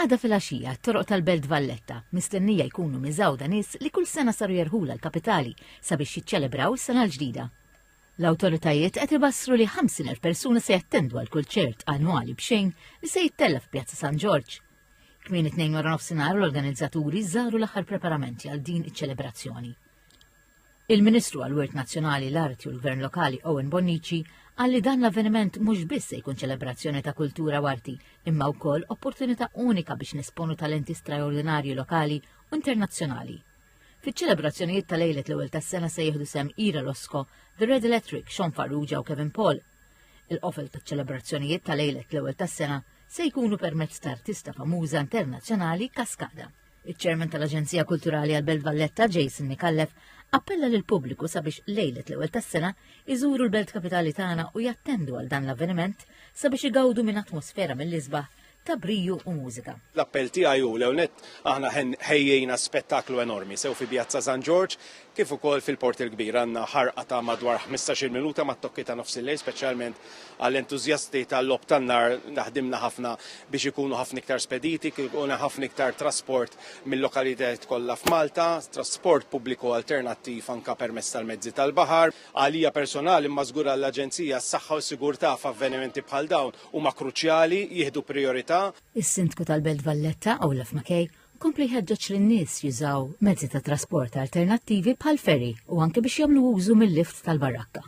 Għada fil-għaxija, t-toroq tal-Belt Valletta mistennija jkunu miżawda nies li kull sena saru jerħula l-kapitali sabiex jiċċelebraw is-sena l-ġdida. L-awtoritajiet qed ibassru li 50,000 persuna se jattendu għal kull ċert annwali b'xejn li se jittella f'Pjazza San Ġorġ. Kmien it-tnejn wara nofsinhar l-organizzaturi żaru l-aħħar preparamenti għal din iċ-ċelebrazzjoni. Il-Ministru għal Wirt Nazzjonali, l-Arti u l-Gvern Lokali Owen Bonnici qal li dan l-avveniment mhux biss se jkun ċelebrazzjoni ta' kultura u arti, imma wkoll opportunità unika biex nesponu talenti straordinarji lokali u internazzjonali. Fiċ-ċelebrazzjonijiet ta' lejlet l-ewwel tas-sena se jieħdu sehem Ira Losco, The Red Electric, Sean Farrugia u Kevin Paul. Il-qofel taċ-ċelebrazzjonijiet ta' lejlet l-ewwel tas-sena se jkunu permezz ta' artista famuża internazzjonali Kaskada. Iċ-Chairman tal-Aġenzija Kulturali għal Belt Valletta, Jason Nikallef, appella lil pubbliku sabiex lejlet l-ewwel tas-sena iżuru l-belt kapitali tagħna u jattendu għal dan l-avveniment sabiex igawdu minn atmosfera mill-isbaħ ta' briju u mużika. L-appell tiegħi hu l-ewwel nett aħna ħejjejna spettaklu enormi sew fi Pjazza San Ġorġ kif ukoll fil-Port il-Kbir għandna ħarqa ta' madwar ħmistax-il minuta mat-tokki ta' nofsillejl speċjalment għall-entużjasti tal-logħob tan-nar li ħdimna ħafna biex ikunu ħafna iktar spediti kif ikun hemm ħafna iktar trasport mil-lokalitajiet kollha f'Malta, trasport pubbliku alternattiv anke permezz tal-mezzi tal-baħar. Għalija personali imma żgur għall-Aġenzija s-saħħa u s-sigurtà f'avvenimenti bħal dawn huma kruċjali, jieħdu prijorità. Is-Sindku tal-Belt Valletta, Olaf Mackay, u kompla jħeġġeġ lin-nies jużaw mezzi ta' trasport alternattivi bħal ferry u anke biex jagħmlu użu mil-lift tal-barakka.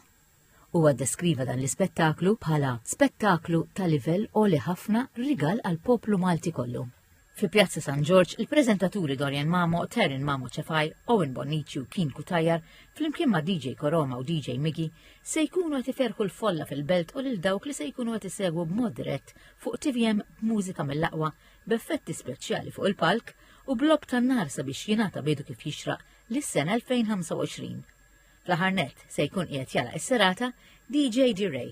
Huwa ddeskriva dan l-ispettaklu bħala spettaklu ta' livell għoli ħafna rigal għall-poplu Malti kollu. Fi Pjazza San Ġorġ, il-preżentaturi Dorian Mamo, Taryn Mamo Cefai, Owen Bonnici u Keen Kutajjar, flimkien ma' DJ Koroma u DJ Migi, se jkunu qed iferħu l-folla fil-belt u lil dawk li se jkunu qed isegwu b'mod dirett fuq TVM b'mużika mill-aqwa b'effetti speċjali fuq il-palk u b'logħob tan-nar sabiex jingħata bidu kif jixraq lis-sena 2025. Fl-aħħar nett, se jkun qiegħed jagħlaq is-serata DJ D'Rey.